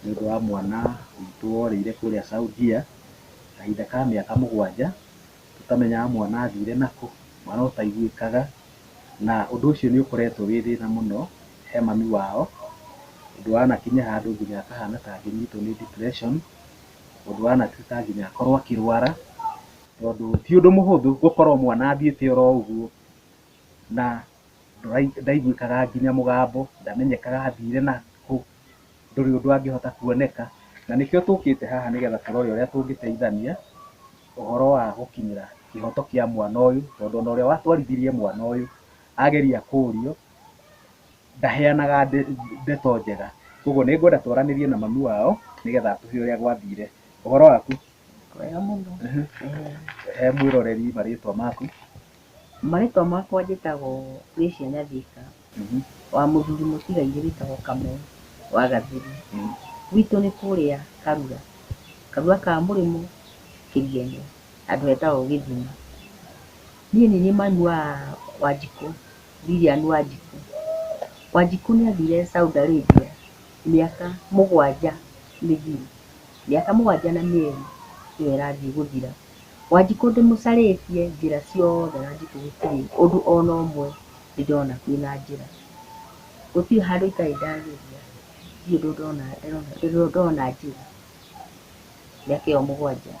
nĩ ũndũ wa mwana witũ worĩire kũrĩa Saudia, kahinda ka mĩaka mũgwanja, tũtamenyaga mwana athire nakũ, mwana ũtaiguĩkaga, na ũndũ ũcio nĩ ũkoretwo wĩ thĩna mũno he mami wao, ũndũ wanakinya handũ nginya akahana ta angĩnyitwo nĩ depression, ũndũ wanatuĩka nginya akorwo akĩrwara, tondũ ti ũndũ mũhũthũ gũkorwo mwana athiĩte oro ũguo, na ndaiguĩkaga nginya mũgambo, ndamenyekaga athire nakũ. ndũrĩ ũndũ angĩhota kuoneka, na nĩkĩo tũkĩte haha nĩgetha tũrore ũrĩa tũngĩteithania ũhoro wa gũkinyĩra kĩhoto kĩa mwana ũyũ, tondũ ona ũrĩa watwarithirie mwana ũyũ ageria kũrio, ndaheanaga ndeto njega. Koguo nĩ ngwenda twaranĩrie na mami wao nĩgetha atwĩre ũrĩa gwathire. Ũhoro waku? Mwega mũno. He mwĩroreri marĩtwa maku. Marĩtwa makwa njĩtagwo Gracia Nyathika, wa mũthuri mũtigairĩ wĩtagwo Kamau wa Gathiri. Gwitũ nĩ kũrĩa Karua, Karua ka Mũrĩmo Kĩrienĩ, handũ hetagwo Gĩthima. Niĩ nĩ niĩ mami wa Wanjikũ, Lilian Wanjikũ. Wanjikũ nĩ athire Saudi Arabia mĩaka mũgwanja mĩthiru, mĩaka mũgwanja na mĩeri nĩyo ĩrathiĩ gũthira. Wanjikũ ndĩmũcarĩtie njĩra ciothe wanjikũ gũtirĩ ũndũ ona ũmwe ndĩrona kwĩna njĩra. Gũtirĩ handũ itarĩ ndageria ndirĩ ũndũ ndona ndĩrona ndona njĩra mĩaka ĩyo mũgwanja.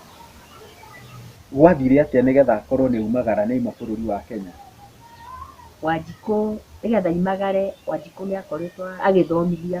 Gwathire atĩa nĩgetha akorwo nĩaumagara nĩauma bũrũri wa Kenya? Wanjikũ nĩgetha aumagare wanjikũ nĩakoretwo agĩthomithia.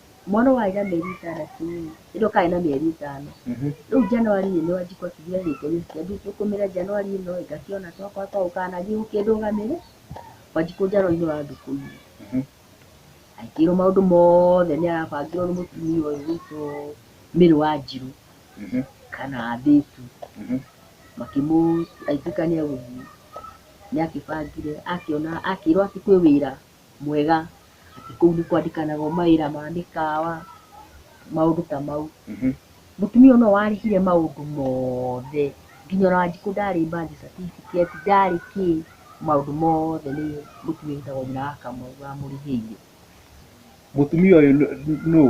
mwana ũyũ arĩ na mĩeri ĩtandatũ rĩ, nĩ ndĩrona arĩ na mĩeri ĩtano, rĩu January rĩ, nĩwe ndikotire gĩko gĩkĩ, rĩu ngĩkũmĩra January ĩno rĩ, ngakĩona twakwa twaũ kana gĩgũkĩndũgamĩrĩra, kwanjia January nĩwe wandugamĩire, akĩrwo maũndũ mothe nĩ arabangĩrwo nĩ mũtumia ũyũ witũ Mary Wanjirũ, kana Mbĩti, makĩmũ agĩtuĩka nĩ egũthiĩ, nĩ akĩbangire akĩona akĩrwo atĩ kwĩ wĩra. mwega, atĩ kũu nĩ kwandĩkanagwo mawĩra ma mĩkawa, maũndũ ta mau. Mũtumia ũyũ no warĩhire maũndũ mothe, nginya ona Wanjikũ ndarĩ birth certificate, ndarĩ kĩ, maũndũ mothe nĩ mũtumia wĩtagwo nyina wa Kamau wamũrĩhĩire. Mũtumia ũyũ nũũ?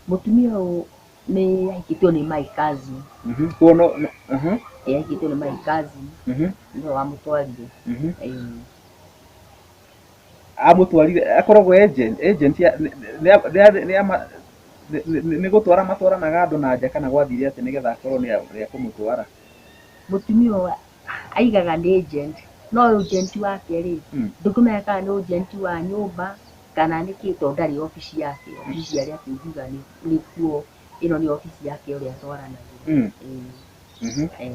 Mũtumia ũyũ Nĩ yaikĩtio nĩ Mike Kazi. Mhm. Kuo no no- aha. Ĩ, Yaikĩtio nĩ Mike Kazi. Mhm. Nĩwe wamũtwarire. Mhm. Ĩ, amũtwarire akoragwo agent agent ya- nĩ- nĩ- nĩ- nĩ ama- nĩ- nĩ- nĩ gũtwara matwaranaga andũ na nja kana gwathire atĩ nĩgetha akorwo nĩ a- nĩ ekũmũtwara Mũtumia ũyũ aigaga nĩ agent. No agent wake rĩ, Mm. ndũkĩmenya kana nĩ agent wa nyũmba kana nĩkĩ to ndarĩ obici yake, obici cia arĩa tũngiuga nĩ nĩkuo ĩno nĩ obici yake ũrĩa twaranagĩria. Mm. Ĩĩ. Mhm. Ĩĩ.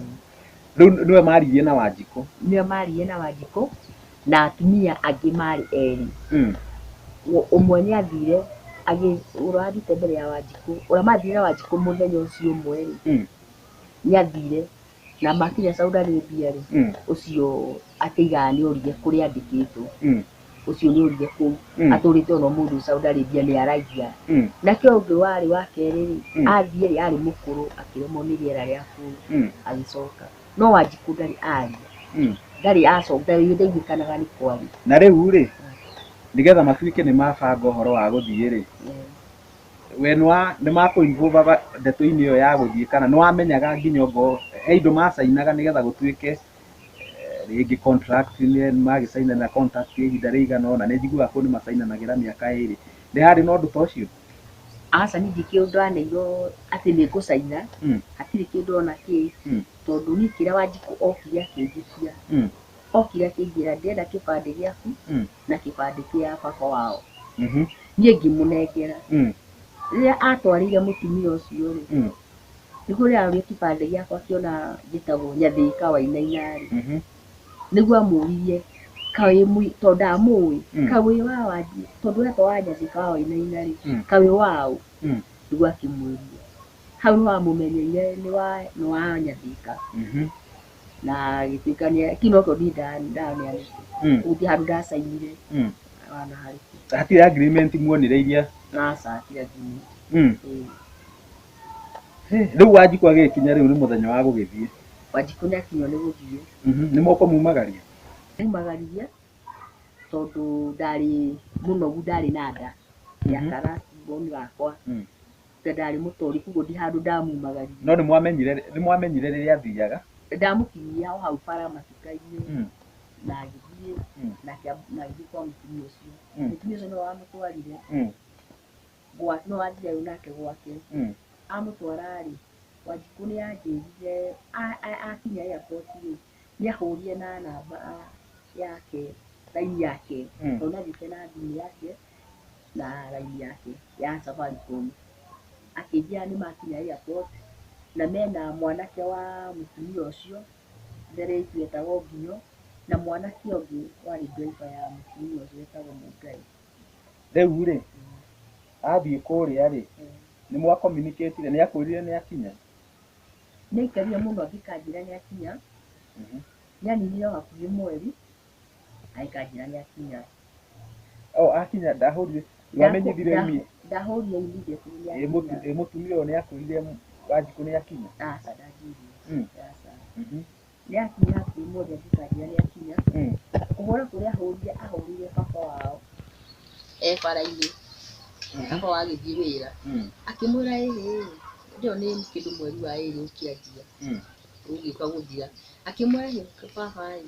Rĩu nĩwe maririe na Wanjikũ. Nĩwe maririe na Wanjikũ, na atumia angĩ marĩ erĩ. Mm. Ũ- Ũmwe nĩ athire agĩ ũrĩa wathiĩte mbere ya Wanjikũ, ũrĩa mathire na Wanjikũ mũthenya ũcio ũmwe-rĩ, Mm. nĩ athire Na makinya Saudi Arabia rĩ, Mm. ũcio akĩiga nĩorire kũrĩa andĩkĩtwo. Mm. Ũcio nĩorire kũu. Mm. Atũrĩte ona ũmũthĩ Saudi Arabia nĩaragia. Mm. Nake ũngĩ warĩ wa kerĩ rĩ, Mm. athiĩ rĩ, arĩ mũkũrũ akĩremwo nĩ rĩera rĩa kũu Mm. agĩcoka. No Wanjikũ ndarĩ aria. Mm. Ndarĩ acoka, ndarĩ ndaiguĩkanaga nĩ kwaria. Na rĩu rĩ, nĩgetha matuĩke nĩ mabanga ũhoro wa gũthiĩ rĩ, Eh, we nĩwa nĩmakũ involve aga ndeto-inĩ ĩyo ya gũthiĩ kana nĩwamenyaga nginya ongorwo he indo macainaga nĩgetha gũtuĩke rĩngĩ contract -inĩ magĩcainana contract ya ihinda rĩigana ũna, nĩnjiguaga kũndũ nĩmacainanagĩra mĩaka ĩrĩ, nĩ harĩ na ũndũ ta ũcio? Aca niĩ ndirĩ kĩndũ ndaneirwo atĩ nĩngũcaina, Mm. hatirĩ kĩndũ ona kĩ, Mm. tondũ niĩ kĩrĩa Wanjikũ okire akĩnjĩtia, Mm. okire akĩnjĩra ndĩrenda kĩbandĩ gĩaku, Mm. na kĩbandĩ kĩa baba wao Mhm. niĩ ngĩmũnengera Mm. rĩrĩa atwarĩire mũtumia ũcio rĩ Mm. nĩguo rĩrĩa arorire kĩbandĩ gĩakwa akĩona njĩtagwo nyathĩka wainainarĩ Mhm. nĩguo amũririe kawĩ mũi- tondũ ndamũĩ Mm. kawĩ wa wanjie tondũ wetwa wa nyathĩka wa wainainarĩ Mm. kawĩ waũ Mm. nĩguo akĩmwĩria hau nĩwamũmenyeire nĩ wa nĩ wa nyathĩka Mhm. na agĩtuĩka nĩ kĩu nokĩo niĩ nda- ndaneanĩte Mm. gũtirĩ handũ ndacainire Mm. ona harĩ hatirĩ agreement muonire iria naca tiga nginya Mm. ĩĩ. Hĩ, rĩu wanjikũ agĩkinya rĩu nĩ mũthenya wa gũgĩthiĩ wanjikũ nĩ akinywo nĩ gũthiĩ Mhm, nĩ moko mumagaria umagaririe tondũ ndarĩ mũnogu ndarĩ na nda ya Mhm. kara mboni gakwa Mm. Tiga ndarĩ mũtũri, koguo ndi handũ ndamumagaririe. No nĩmwamenyire nĩmwamenyire rĩrĩa athiaga? Ndamũkinyia o hau bara matuka-inĩ, Mm. na ngĩthiĩ, Mm. nake a- na ngĩthiĩ kwa mũtumia ũcio. Mm. Mũtumia ũcio nĩwe wamũtwarire, Mm. gwa- nĩwe wathiaga nake gwake. Mm. amũtwara-rĩ wanjikũ nĩ anjĩrire a- a- akinya airport-rĩ nĩ ahũrire na namba yake raini yake Mm. tondũ nĩ agĩte na thimũ yake na raini yake ya Safaricom. Akĩnjĩra nĩ makinya airport na mena mwanake wa mũtumia ũcio, mbere itũ etagwo Nginyo, na mwanake ũngĩ warĩ driver ya mũtumia ũcio etagwo Mũngai. Rĩu rĩ, athiĩ kũrĩa rĩ, nĩ mwa communicate ire, nĩ akwĩrire nĩ akinya? Nĩ aikarire mũno angĩkanjĩra nĩ akinya, nĩ aninire o hakuhĩ mweri. Aikanjĩra nĩ akinya. O akinya ndahũrire. Wamenyithire imi. Ndahũrire imi ndĩtu nĩ akinya. Ĩ mũtumia ũyũ nĩ akwĩrire Wanjikũ nĩ akinya? Aca ndanjĩrire. Mm. Aca. Mhm. Nĩ akinya hakuhĩ mothe akikanjĩra nĩ akinya. Mm. Kũhũra kũrĩa ahũrire ahũrire baba wao. E bara-inĩ. Mhm. Baba wao agĩthiĩ wĩra. Mm. Akĩmwĩra ĩhĩ ndĩo nĩ kĩndũ mweri wa ĩrĩ ũkĩanjia. Mm. Ũgĩũka gũthira. Akĩmwĩra ĩhĩ baba ĩ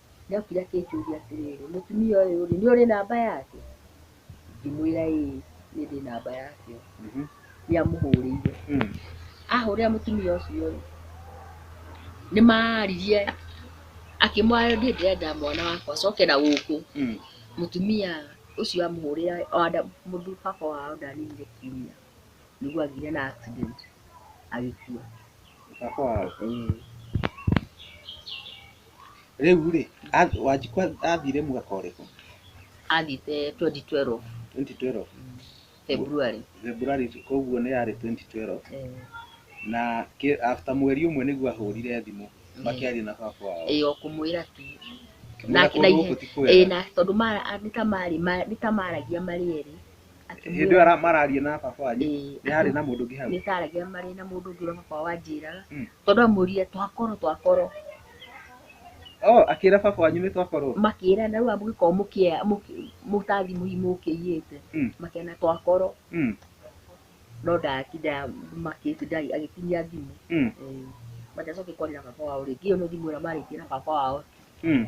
nĩokire akĩnjũria atĩrĩrĩ, mũtumia ũyũ-rĩ, nĩũrĩ namba yake? Ngĩmwĩra ĩĩ nĩndĩ namba yake. Nĩamũhũrĩire. Ahũrĩra mũtumia ũcio-rĩ, nĩmaririe, akĩmwĩra niĩ ndĩrenda mwana wakwa acoke na gũkũ. Mũtumia ũcio amũhũrĩra, baba wao ndaninire kiumia, nĩguo agĩire na accident agĩkua. Baba wao? Ĩĩ. Rĩu rĩ, ath- Wanjikũ athire mwaka ũrĩkũ? athite 2012 2012. February February koguo nĩ yarĩ 2012 Eh, na kĩ- after mweri ũmwe nĩguo ahũrire thimũ makĩaria na baba wao. ĩĩ o kũmwĩra tu Kĩmwĩra na- kũndũ na gũkũ ihe- ti kwega. ĩĩ na tondũ mara- a- nĩ ta marĩ ma- nĩ ta maragia marĩ erĩ Hĩndĩ ĩyo ara- mararia na baba wanyu Ĩĩ. nĩ harĩ na mũndũ ũngĩ hau nĩ taragia marĩ na mũndũ ũngĩ ũrĩa baba wao anjĩraga Mm. tondũ amũria twakoro twakoro oh akĩra baba wanyu nĩ twakorwo makĩra na rĩu amũgĩkorwo mũkĩa mũkĩ- mũtathi mũhi mũkĩiyĩte Mm. makĩana twakoro Mm, no ndatinda makĩti ndari agĩtinia thimũ mm, Eh, matiacoke kwarĩra baba wao rĩngĩ ĩyo nĩ thimũ ĩrĩa marĩtie na baba wao mm. Eh,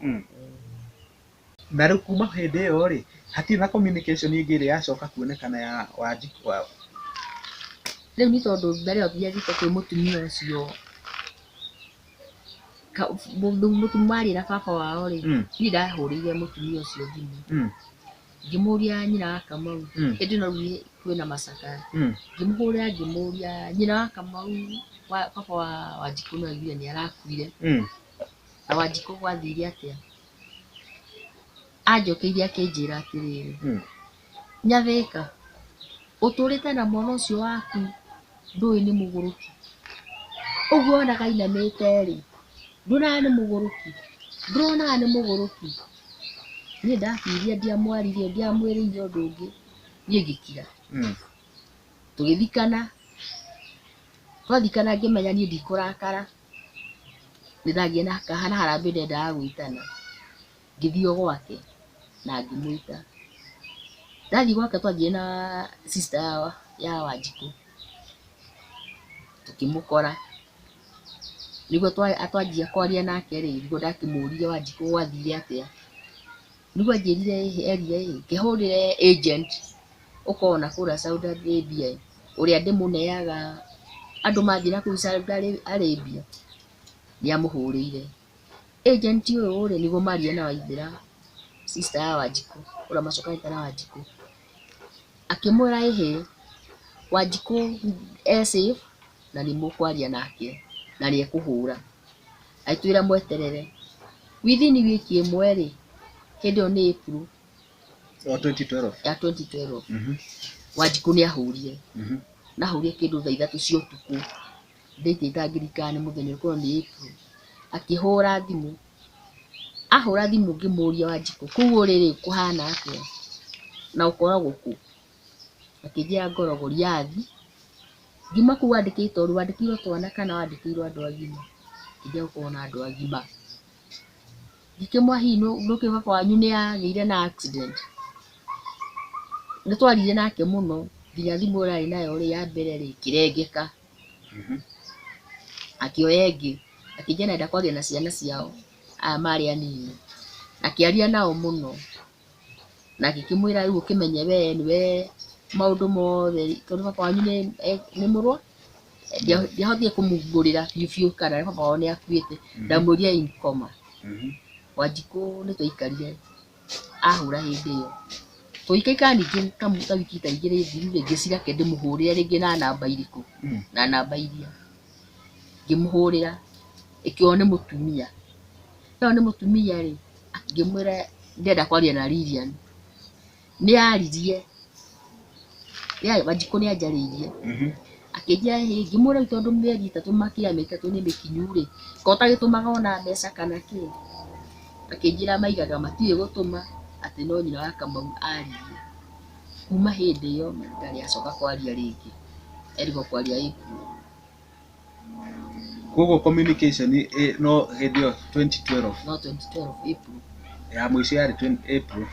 Mm. na rĩu kuma hĩndĩ ĩyo rĩ hatirĩ na communication ĩngĩ ĩrĩa yacoka kuonekana ya wanjikũ wao rĩu nĩ tondũ mbere ĩyo thiathiĩte kwĩ mũtumia ũcio ka- mũndũ- mũtu- mwaria na baba wao rĩ Mm. niĩ ndahũrĩire mũtumia ũcio thimũ Mm. ngĩmũria nyina wa kamau Mm. ĩndĩ no rĩu nĩ- kwĩna macakaya Mm. ngĩmũhũrĩra ngĩmũria nyina wa kamau wa baba wa wanjikũ no aiguire nĩ arakuire Mm. Na Wanjikũ gwathire atĩa? Anjokeire akĩnjĩra atĩrĩrĩ, hmm. Nyathĩka, ũtũrĩte na mwana ũcio waku ndũĩ nĩ mũgũrũki. Ũguo onaga ainamĩte-rĩ, nduonaga nĩ mũgũrũki? Nduonaga nĩ mũgũrũki? Niĩ ndakiria ndiamwarire, ndiamwĩrĩire ũndũ ũngĩ, niĩ ngĩkira. Hmm. Tũgĩthikana, twathikana ngĩmenya niĩ ndikũrakara. nĩndathiĩ na kaha na harambĩ ndendaga gwĩtana, ngĩthiĩ o gwake na ngĩmwĩta. Ndathiĩ gwake twathiĩ na sister ya ya Wanjikũ, tũkĩmũkora, nĩguo twa twanjia kwaria nake-rĩ, nĩguo ndakĩmũrie Wanjikũ gwathire atĩa. Nĩguo anjĩrire ĩhĩ eria ĩhĩ ngĩhũrĩre agent ũkoragwo nakũrĩa Saudi Arabia ĩ, ũrĩa ndĩmũneaga andũ mathiĩ nakũu Saudi Arabia, nĩ amũhũrĩire. Agent ũyũ rĩ, nĩguo maririe na Waithĩra, sister ya Wanjikũ, ũrĩa macokanĩte na Wanjikũ. Akĩmwĩra ĩhĩ, Wanjikũ e safe na nĩ mũkwaria nake na nĩ ekũhũra. agĩtwĩra mweterere within week ĩmwe rĩ hĩndĩ ĩyo nĩ April Wa 2012. ya 2012 Mhm. wanjikũ nĩ ahũrire Mhm. nahũrire kĩndũ thaa ithatũ cia ũtukũ ndaitĩta ngirikani mũthenya ũkorwo nĩ April akĩhũra thimũ ahũra thimũ ngĩmũria wanjikũ kũu ũrĩrĩ kũhana atĩa na ũkoragwo kũ akĩnjĩra ngoro Goliathi, ngiuma kũu wandĩkĩirwo tondũ wandĩkĩirwo twana kana wandĩkĩirwo andũ agima, akĩnjĩra gũkorwo na andũ agima, ngĩkĩmũria hihi nĩũkĩ baba wanyu nĩagĩire na accident, nĩtwarire nake mũno nginya thimũ ĩrĩa arĩ nayo ya mbere rĩ ĩkĩrengeka, akĩoya ĩngĩ, akĩnjĩra nĩarenda kwaria na ciana ciao, aya marĩ anini, akĩaria nao mũno. na ngĩkĩmwĩra rĩu ũkĩmenye we nĩwe maũndũ mothe tondũ baba wanyu nĩ e- nĩ mũrwa Ndia- ndiahotire kũmumbũrĩra biũ biũ kana baba wao nĩ akuĩte ndamwĩria in coma Mhm. wanjikũ nĩ twaikarire ahũra hĩndĩ ĩyo tũikaikara ningĩ kamu- ta wiki ta igĩrĩ thiru rĩngĩ cirake ndĩmũhũrĩre rĩngĩ na namba irĩkũ Mm. na namba iria ngĩmũhũrĩra ĩkĩrwo nĩ mũtumia. Ĩkĩrwo nĩ mũtumia rĩ, ngĩmwĩra ndĩrenda kwaria na Lilian. Nĩ aririe, Wanjikũ nĩ anjarĩirie. Akĩnjĩra hihi, ngĩmũria rĩu tondũ mĩeri ĩtatũ makĩria mĩeri ĩtatũ nĩ mĩkinyu rĩ, kaĩ ũtagĩtũmaga ona mbeca kana kĩ? Akĩnjĩra maigaga matirĩ gũtũma, atĩ no nyina wa Kamau aririe. Kuma hĩndĩ ĩyo ndarĩ acoka kwaria rĩngĩ, erigwo kwaria ĩ kuũ. Koguo communication no hĩndĩ ĩyo 2012. No 2012 April. Ya mũico yarĩ April.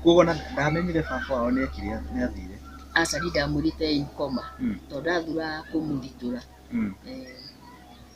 Koguo ndamenyire baba wao nĩ ekire atĩa, nĩ athire. Aca ndiĩ ndamwĩrĩte e in coma tondũ ndathura kũmũthitũra.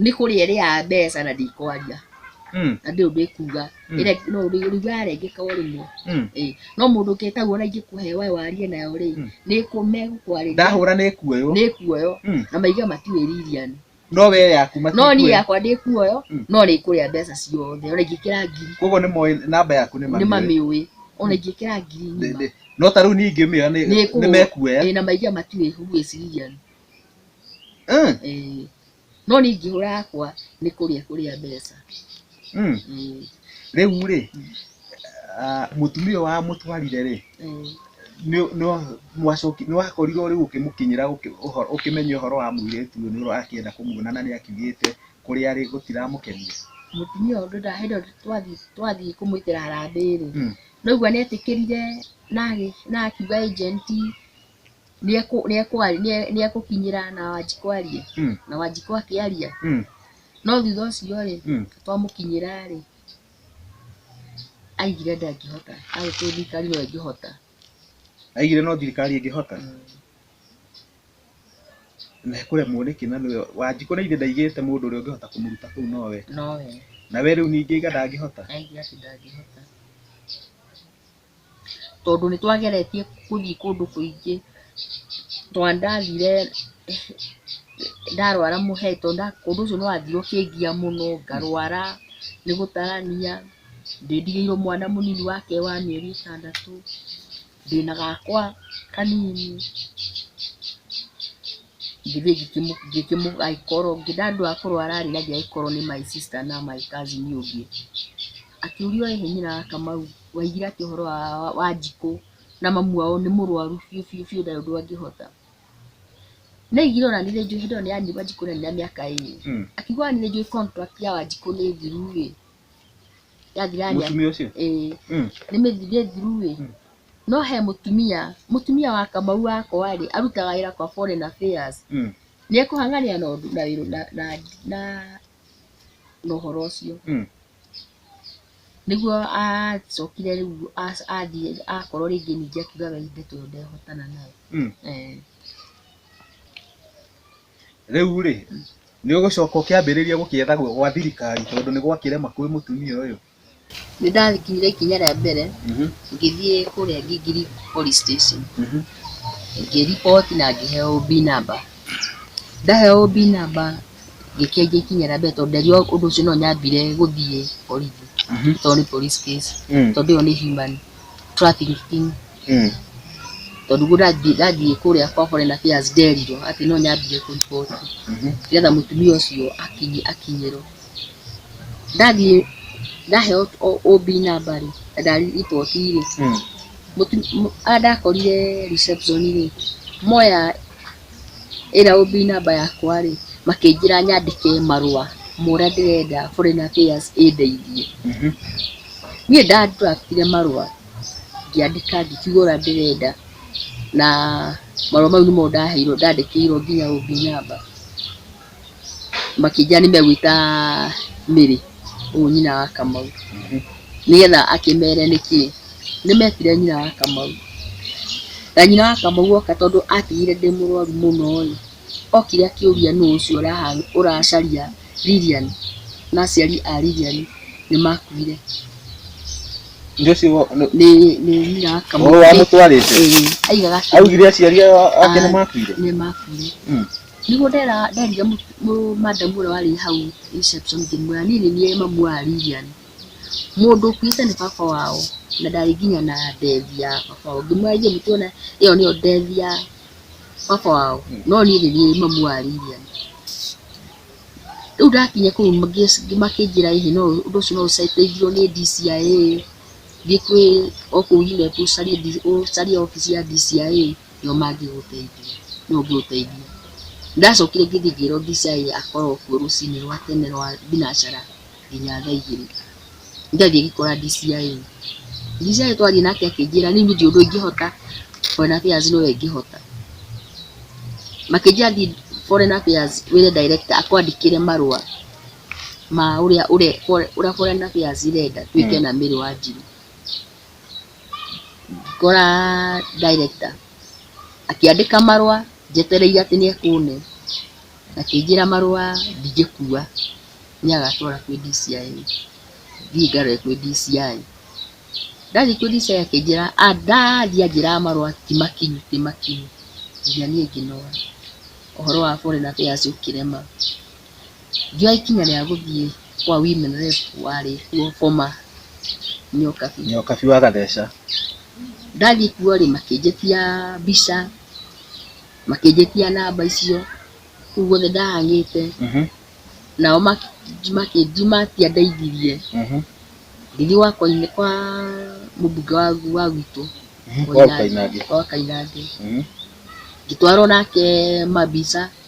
nĩ kũrĩa ĩrĩaga mbeca na ndĩkwaria Mm. na ndĩũ ndĩkuga Mm. Ĩrĩa- no ũrigwa arengeka o rĩmwe Mm. Ĩĩ. no mũndũ ũkĩtaguo na ingĩkũhe wae warie nayo rĩ Mm. nĩ kũ- megũkwarĩria ndahũra nĩ kuoyo nĩ kuoyo Mm. na maiga matiwĩ ririani no we yaku no niĩ matikuoyo yakwa ndĩ kuoyo Mm. no nĩ kũrĩa mbeca ciothe ona ingĩkĩra ngiri koguo nĩ moĩ namba yaku nĩ nĩ mamĩoe. mamĩũĩ ona ingĩkĩra ngiri Ndĩ- ng'ima ndĩ. no ta rĩu niĩ ingĩmĩoya nĩ- Nĩkũhũ- nĩ mekuoya ĩĩ, na maiga matiwĩ huĩ ciriani Eh, Eh, no niĩ ingĩhũra yakwa nĩ kũrĩa kũrĩa mbeca mm. Eh, rĩu rĩ ah, mũtumia ũyũ wa mũtwarire rĩ eh, nĩ- nĩ- mwacoki- nĩ wakorirwo rĩu ũkĩmũkinyĩra ũkĩ- ũhoro- ũkĩmenya ũhoro wa mũirĩtu ũyũ nĩ ũrakĩenda kũmuona na nĩ akiugĩte kũrĩa arĩ gũtiramũkenia mũtumia ũndũ ndahĩndĩ twathiĩ twathiĩ kũmwĩtĩra harambĩ rĩ Mm. naigua nĩ etĩkĩrire na agĩ- na akiuga agenti nĩekũ- nĩekwa- nĩe- nĩekũkinyĩra na wanjikũ arie Mm. na wanjikũ akĩaria Mm. no thutha ũcio rĩ Mm. twamũkinyĩra rĩ aigire ndangĩhota agĩtũ thirikari no ĩngĩhota aigire no thirikari ĩngĩhota na kũremwo nĩkĩ na nĩwe wanjikũ na ithe ndaigĩte mũndũ ũrĩa ũngĩhota kũmũruta kũu nowe nowe na we rĩu ningĩ iga ndangĩhota aigire atĩ ndangĩhota tondũ nĩ twageretie gũthiĩ kũndũ kũingĩ, tondũ ndathire ndarwara mũhera tondũ ũndũ ũcio nĩ wathiire ũkĩngia mũno, ngarwara nĩ gũtarania, ndĩ ndigĩirwo mwana mũnini wa kahĩĩ wa mĩeri ĩtandatũ, ndĩna gakwa kanini, ngĩthiĩ ngĩkĩmũ agĩkorwo ndandua wa kũrwara rĩ na ndiagĩkorwo nĩ my sister na my cousin ũngĩ, akĩũria ũrĩa nyina wa Kamau. waigire atĩ ũhoro wa wa wanjikũ na mamu wao nĩ mũrwaru biũ biũ biũ ndarĩ ũndũ angĩhota ndaigire ona niĩ nĩ njũĩ hĩndĩ ĩyo nĩ ya nĩrĩ wanjikũ arĩ na mĩaka ĩrĩ Mm. akiuga ona niĩ nĩ njũĩ contract ya wanjikũ nĩ thiru ĩ yathira nĩ mũtumia ũcio ĩĩ Mm. nĩ mĩthirĩ thiru ĩ Mm. no he mũtumia mũtumia wa kamau wakwa rĩ arutaga wĩra kwa foreign affairs Mm. nĩ ekũhanganĩra na ũndũ na wĩra na na na na ũhoro ũcio Mm. nĩguo acokire rĩu athiĩ akorwo rĩngĩ ningĩ akiuga we inde tondũ ndehotana nayo. Mm. Eh, rĩu rĩ nĩ ũgũcoka ũkĩambĩrĩria gũkĩetha gwa gwa thirikari tondũ nĩ gwakĩrema kwĩ mũtumia ũyũ Nĩ ndakinyire ikinya rĩa mbere Mhm, ngĩthiĩ kũrĩa Ngingiri police station mhm. ngĩriboti na ngĩheo OB number. Ndaheo OB namba ngĩkĩa ingĩkinyĩra mbere tondũ nderirwo ũndũ ũcio no nyambire gũthiĩ borithi okorwo nĩ police case tondũ ĩyo nĩ human trafficking tondũ guo ndathiĩ kũrĩa kwa foreign affairs nderirwo atĩ no nyambire kũ report nĩgetha mũtumia ũcio akinyĩrwo. Ndathiĩ ndaheo OB namba rĩ na nda report rĩ, harĩa ndakorire reception rĩ moya ĩra OB namba yakwa rĩ, makĩnjĩra nyandĩke marũa ma ũrĩa ndĩrenda Foreign Affairs ĩndeithie. Niĩ nda draft ire marũa ngĩandĩka ngĩkiuga ũrĩa ndĩrenda na marũa mau nĩmo ndaheirwo, ndandĩkĩirwo nginya OB namba. makĩnjĩra nĩ megwĩta Mary, ũyũ nyina wa Kamau, nĩgetha akĩmere nĩkĩ. Nĩ metire nyina wa Kamau, na nyina wa Kamau oka tondũ atigire ndĩ mũrwaru mũno rĩ, okire akĩũria nũ ũcio ũracaria Lilian na aciari a Lilian nĩ makuire. Nĩ nyina wa Kamau. Ũrĩa wamũtwarĩte? Ĩĩ. Aigaga atĩ. Augire aciari ake nĩ makuire? Nĩ makuire. Nĩguo nderire madam ũrĩa warĩ hau reception ngĩmwĩra niĩ nĩ niĩ mamu wa Lilian, mũndũ ũkuĩte nĩ baba wao na ndarĩ nginya na death ya baba wao. Ngĩmwĩra ithuĩ tũtiũĩ ĩyo nĩyo death ya baba wao no niĩ nĩ niĩ mamu wa Lilian. Rĩu ndakinya kũu makĩnjĩra ĩhĩ no ũndũ ũcio no ũteithio nĩ DCIA, thiĩ kwĩ o kũu ũcarie wabici ya DCIA. nĩo mangĩgũteithia, nũũ ũngĩgũteithia? Ndacokire ngĩthiĩ ngĩrwo Abishai akorwo kuo rũcinĩ rwa tene rwa thinacara nginya thaa igĩrĩ. Ndathiĩ ngĩkora DCI. DCI twathiĩ nake akĩnjĩra rĩu niĩ ndiũĩ ũndũ ingĩhota, Foreign Affairs nĩyo ĩngĩhota. Makĩnjĩra thiĩ Foreign Affairs wĩre director akwandĩkĩre marũa ma ũrĩa ũrĩa Foreign Affairs ĩrenda twĩke na Mary Wanjĩrũ. ngora director akĩandĩka marũa njetereire atĩ nĩ ekũne, akĩnjĩra marũa ndingĩkua, nĩ agatwara kwĩ DCI. Thiĩ ngarore kwĩ DCI. Ndathiĩ kwĩ DCI akĩnjĩra, ndathiĩ anjĩraga marũa ti makinyu ti makinyu, nginya niĩ ngĩnoga. Ũhoro wa Foreign Affairs ũkĩrema. ngĩoya ikinya rĩa gũthiĩ kwa women rep warĩ kuo boma nyokabi nyokabi wa gatheca ndathiĩ kuo rĩ makĩnjĩtia mbica makĩnjĩtia namba icio kũu guothe ndahang'ĩte mhm, nao maki- makĩnji matiandeithirie mhm, ngĩthiĩ gwa koine kwa mũmbunge wa wa gwitũ mhm, wa Koinange. Koinange. wa Kainange Mhm, ngĩtwarwo nake mabica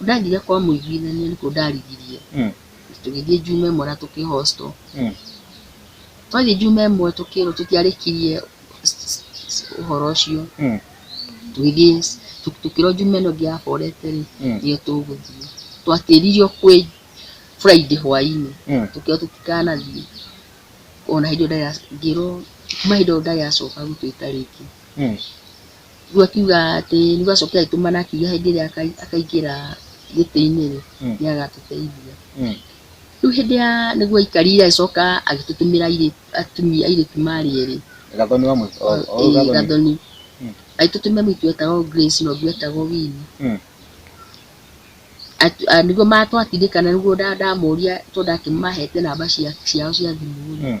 ndathiire kwa mũiguithania nĩkuo ndarigirie Mm. tũgĩthiĩ njuma ĩmwe na tũkĩ hostel Mm. twathiĩ njuma ĩmwe tũkĩrwo tũtiarĩkirie s- s- s- ũhoro ũcio Mm. tũgĩthiĩ s- tũ- tũkĩrwo njuma ĩno ĩngĩ ya forete rĩ Mm. nĩyo tũgũthiĩ twatĩririo kwĩ friday hwainĩ Mm. tũkĩrwo tũtikanathiĩ ona hĩndĩ ĩyo ndarĩ- ngĩrwo kuma hĩndĩ ĩyo ndarĩacoka gwitũ ĩtarĩki Mm. rĩu akiuga atĩ rĩu acoke agĩtũmana akiuga hĩndĩ ĩrĩa akai- akaingĩra gĩtĩ-inĩ rĩ Mm. nĩ agatũteithia Mm. rĩu hĩndĩ ya nĩguo aikarire agĩcoka agĩtũtũmĩra airĩ- atumia airĩtu marĩ erĩ gathoni wa mũico o- o- Ĩĩ, gathoni. gathoni Mm. agĩtũtũmĩra mũirĩtu wetagwo Grace na ũngĩ wetagwo Winnie Mm. Atu- a- nĩguo matwatindĩkana nĩguo nda- ndamũria tondũ ndakĩmahete namba cia- ciao cia thimũ rĩ Mm.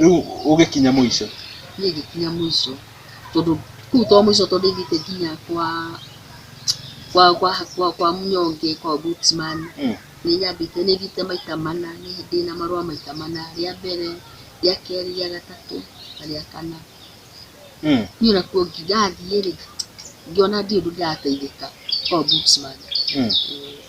rĩu ũgĩkinya mũico niĩ ngĩkinya mũico tondũ kuu to mũico tondũ ithiĩte nginya kwa kwa kwa kwa, kwa mnyonge kwa ombudsman Mm. nĩ nyambĩte nĩ thiĩte maita mana nĩ ndĩ na marũa maita mana rĩa mbere rĩa kerĩ rĩa gatatũ na rĩa kana Mm. niĩ onakuo ngirathiĩ rĩ ngĩona ndirĩ ũndũ ndĩrateithĩka kwa ombudsman Mm.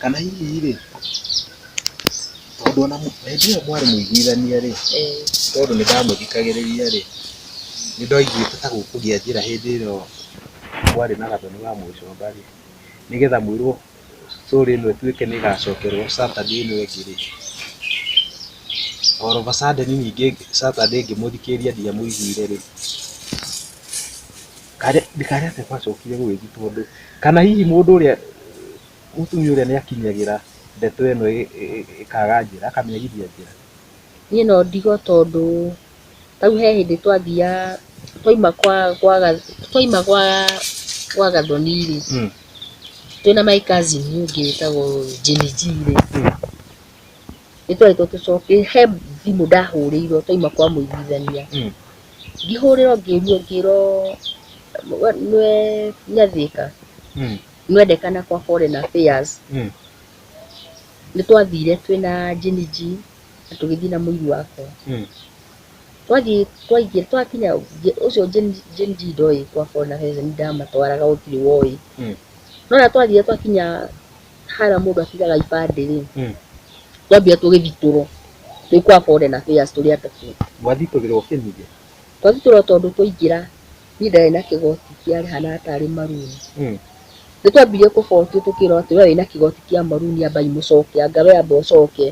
kana hihi rĩ tondũ ona hĩndĩ ĩyo mwarĩ mũiguithania rĩ Eh, tondũ nĩ ndamũthikagĩrĩria rĩ nĩ ndaiguĩte ta gũkũgĩa njĩra hĩndĩ ĩyo kwarĩ na gathoni wa mũgĩcomba rĩ nĩgetha mwĩrwo story ĩno ĩtuĩke nĩ ĩgacokerwo Saturday ĩno ĩngĩ rĩ all of a sudden ningĩ Saturday ngĩmũthikĩrĩria ndiamũiguire rĩ ndikare atĩ gwacokire gũgĩthiĩ tondũ kana hihi mũndũ ũrĩa Mũtumia ũrĩa nĩ akinyagĩra ndeto ĩno ĩkaga njĩra, akamĩagithia njĩra. Niĩ no ndige tondũ ta rĩu he hĩndĩ twathiaga, twaima gwa gwa Gathoni rĩ, twĩ na my cousin ũngĩ wĩtagwo Jimmy G rĩ, nĩ twerĩtwo tũcoke, he thimũ ndahũrĩirwo twaima kwa mũiguithania, ngĩhũrĩrwo ngĩrio ngĩrwo nĩ we Nyathĩka. nĩwendekana kwa foreign affairs Mm. nĩtwathire twĩna jiniji na tũgĩthiĩ na mũiru wakwa Mm. twathiĩ twaingĩ twakinya nge- ũcio Gen- Gen Z ndoĩ kwa foreign affairs nĩndamatwaraga gũtirĩ woĩ Mm. no na twathire twakinya hara mũndũ atigaga ibandĩ rĩ Mm. twambire tũgĩthitũrwo twĩ kwa foreign affairs tũrĩ atatũ mwathitũrĩrwo kĩnyigĩ twathitũrwo tondũ twaingĩra niĩ ndarĩ na kĩgoti kĩarĩhana atarĩ maruni. Nĩ twambirie kũbotio tũkĩrwo atĩ we wĩna kĩgoti kĩa maruni amba imũcoke, anga we amba ũcoke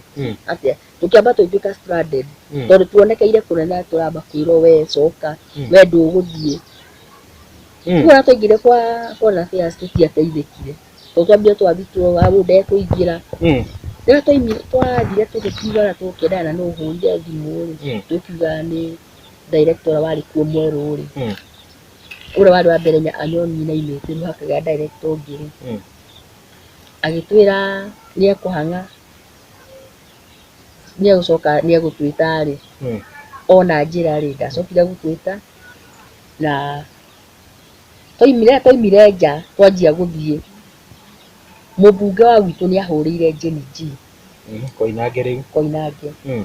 atĩa. Tũkĩamba tũgĩtuĩka stranded tondũ tuonekeire kũnene atĩ tũramba kwĩrwo we coka, we ndũgũthiĩ. Rĩu ona twaingĩrire kwa foreign affairs tũtiateithĩkire tondũ twambire twathitwo wa ũyũ ndekũingĩra. Rĩrĩa twathire tũgĩkiuga ona tũkĩenda na nũ ũhũrire thimũ rĩ, tũkiuga nĩ. director ũrĩa warĩ kuo mwerũ rĩ, Mm. ũrĩa warĩ wa mbere nya- anyonirie na aimĩte rĩu hakagĩa director ũngĩ rĩ, Mm. agĩtwĩra nĩekũhang'a nĩegũcoka nĩegũtwĩta rĩ, Mm. ona njĩra rĩ, ndacokire gũtwĩta na twaimire twaimire nja twanjia gũthiĩ, mũmbunge wa gwitũ nĩahũrĩire Jane G Koinange rĩu. Koinange. Mm.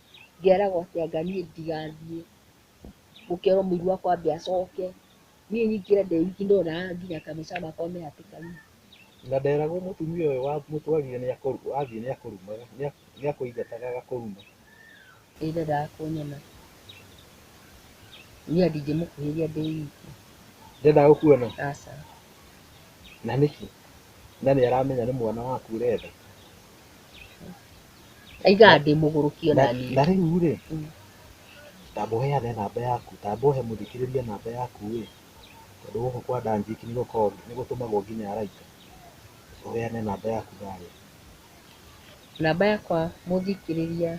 ngeragwo atĩ anga niĩ ndigathiĩ, ngerwo mũiru wakwa ambe acoke, niĩ nyingĩre ndĩ wiki ndona nginya ka mbica gakwa me hatĩka-inĩ. Na nderagwo mũtumia ũyũ wamũtwarire nĩ athiĩ nĩ akũrumaga, nĩ akũingataga agakũruma. Nĩ ndendaga kũnyona, niĩ ndingĩmũkuhĩrĩria ndĩ wiki. Ndendaga gũkuona? Aca. Na nĩkĩ? Na nĩ aramenya nĩ mwana waku ũrenda? Aiga ndĩ mũgũrũkie na naniĩ. na rĩu rĩ Mm. tamba ũheane namba yaku tamba ũhe mũthikĩrĩria namba yaku ĩ tondũ gũkũ kwa danjiki nĩ gũkoragwo nĩ gũtũmagwo nginya araika ũheane namba yaku thayũ Namba yakwa mũthikĩrĩria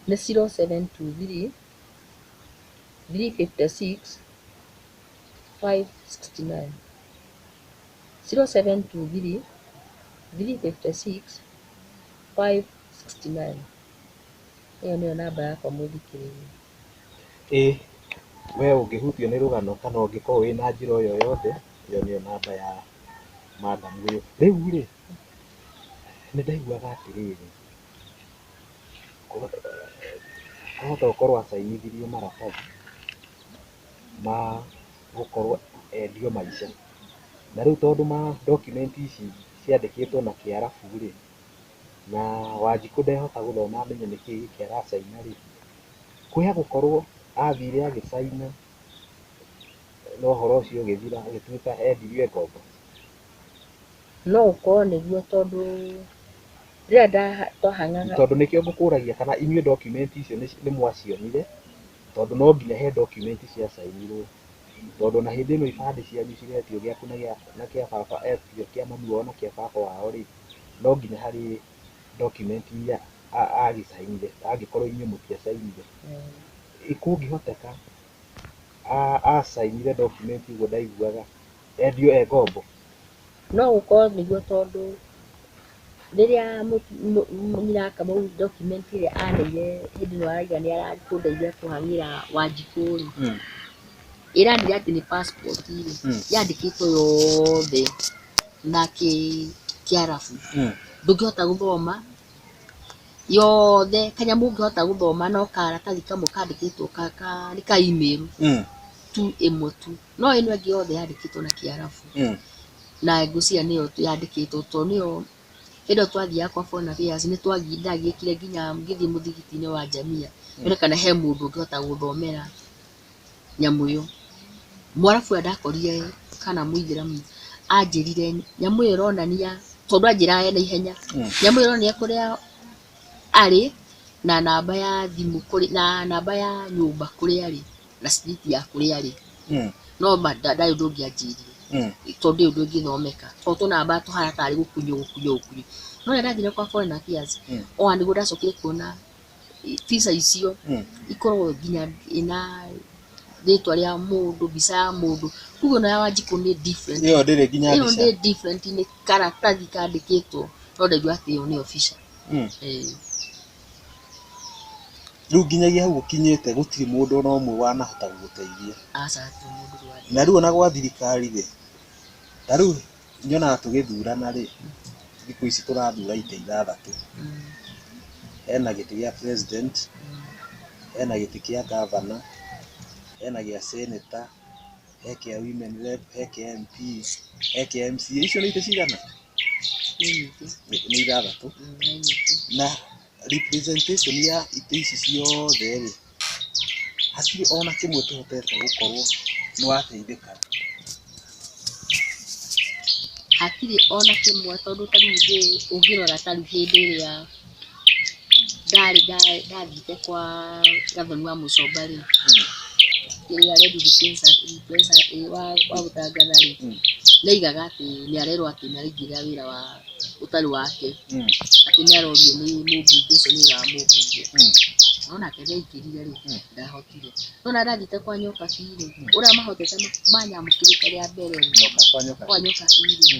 nĩ 0723 356 569. 0723 356 569. Ĩyo nĩyo namba yakwa mũthikĩrĩria. Ĩ we ũngĩhutio nĩ rũgano kana ũngĩkorwo wĩ na njĩra o yothe, ĩyo nĩyo namba ya madam ũyũ. Rĩu rĩ, nĩ ndaiguaga atĩrĩrĩ, kwahota gũkorwo acainithirio maratathi ma... gũkorwo endio maice. Na rĩu tondũ ma document ici ciandĩkĩtwo na kĩarabu rĩ, na Wanjikũ ndehota gũthoma amenye nĩ kĩĩ gĩkĩ aracaina rĩ, kwĩ agũkorwo athire agĩcaina na ũhoro ũcio ũgĩthira agĩtuĩka endirio e ngombo? No gũkorwo nĩguo tondũ rĩrĩa twahanana. Tondũ nĩkĩo ngũkũragia kana inyuĩ document icio nĩ mwacionire tondũ no nginya he document cia cainirwo, tondũ ona hĩndĩ ĩno ibandĩ cianyu ciretio gĩaku na gĩa na kĩa baba kĩa mami wao na kĩa baba wao-rĩ, no nginya harĩ document iria agĩcainire angĩkorwo inyuĩ mũtiacainire. Kũngĩhoteka acainire document ũguo ndaiguaga, endio e ngombo. No gũkorwo nĩguo tondũ rĩrĩa nyina akamuonia document ĩrĩa aneire hĩndĩ ĩrĩa arauga nĩ arakĩndeithia kũhang'ĩra Wanjikũ rĩ, ĩranĩrĩa atĩ nĩ passport rĩ, yandĩkĩtwo yothe na kĩarabu. Ndũngĩhota gũthoma yothe, kanyamũ ũngĩhota gũthoma no karatathi kamwe kandĩkĩtwo nĩ ka email tu, ĩmwe tu. No ĩno ĩngĩ yothe yandĩkĩtwo na kĩarabu, na ngwĩciria nĩyo yandĩkĩtwo to nĩyo, hĩndĩ ĩyo twathiaga kwa Bonavĩas nĩtwagiĩkire nginya ngĩthiĩ mũthigitinĩ wa Njamia nyone kana he mũndũ ũngĩhota gũthomera nyamũ ĩyo. Mwarabu ũrĩa ndakorire kana mũithĩramu anjĩrire nyamũ ĩyo ĩronania, tondũ anjĩraga ena ihenya, nyamũ ĩyo ĩronania kũrĩa arĩ na namba ya thimũ na namba ya nyũmba kũrĩa arĩ. na street ya kũrĩa arĩ Mm. no ma- nda- ndarĩ ũndũ ũngĩ anjĩrire Mm. tondũ ndĩ ũndũ ũngĩthomeka tondũ tũnamba tũhana tarĩ gũkunywo gũkunywo gũkunywo no rĩrĩa ndathire kwa foreign affairs Mm. ona nĩguo ndacokire kuona i- visa icio Mm. ikoragwo nginya ĩna rĩtwa rĩa mũndũ mbica ya mũndũ kuguo nayo wanjikũ nĩ different ĩyo ndĩrĩ nginya ĩyo mbica nĩ different nĩ karatathi kandĩkĩtwo no ndaigua atĩ ĩyo nĩ official Mm. Eh, Rĩu nginyagia hau ũkinyĩte gũtirĩ mũndũ ona ũmwe wanahota gũgũteithia. Aca hatirĩ mũndũ rwari. Na rĩu ona gwa thirikari rĩ, ta rĩu nyonaga tũgĩthurana rĩ, thikũ ici tũrathura itĩ ithathatũ. Hena gĩtĩ gĩa president, hena gĩtĩ kĩa governor, hena gĩa senator, he kĩa women rep, he kĩa MP, he kĩa MCA. Icio nĩ itĩ cigana? nĩ nyingĩ nĩ nĩ ithathatũ mm, nĩ nyingĩ na representation ya itĩ ici ciothe rĩ hatirĩ ona kĩmwe kĩhotete gũkorwo nĩ wateithĩka hatirĩ ona kĩmwe tondũ ta rĩu ũngĩ- ũngĩrora ta rĩu hĩndĩ ĩrĩa ndarĩ ndathiĩte kwa gathoni wa mũcomba rĩ, ũrĩa Red Defencer Defencer ĩ wa wa gũtangatha rĩ, nĩ aigaga atĩ nĩ arerwo atĩ nĩ araingĩrĩra wĩra wa ũtarĩ wake, atĩ nĩ arorio nĩ mũbunge ũcio nĩ wĩra wa mũbunge. No nake nĩ aingĩrire rĩ, ndahotire. No na ndathiĩte kwa nyoka bi rĩ, ũrĩa mahotete manyamũkĩrĩte rĩa mbere rĩ, kwa nyoka bi rĩ,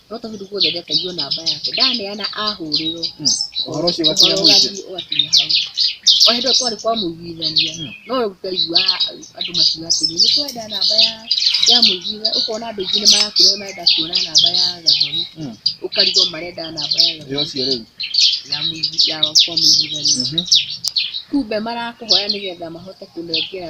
no tondũ guothe ndetagia namba yake ndaneana ahũrĩrwo hmm. ũhoro ũcio ũgakinya mũingĩ ũgakinya hau o hĩndĩ kwarĩ kwa mũiguithania hmm. no ũkaigua andũ makiuga atĩrĩ nĩ twenda namba ya ya mũiguitha ũkona andũ aingĩ nĩ marakũrĩa marenda kuona namba ya gathoni hmm. ũkarigwo marenda namba ya gathoni ya mũiguithania kumbe marakũhoya nĩgetha mahote kũnengera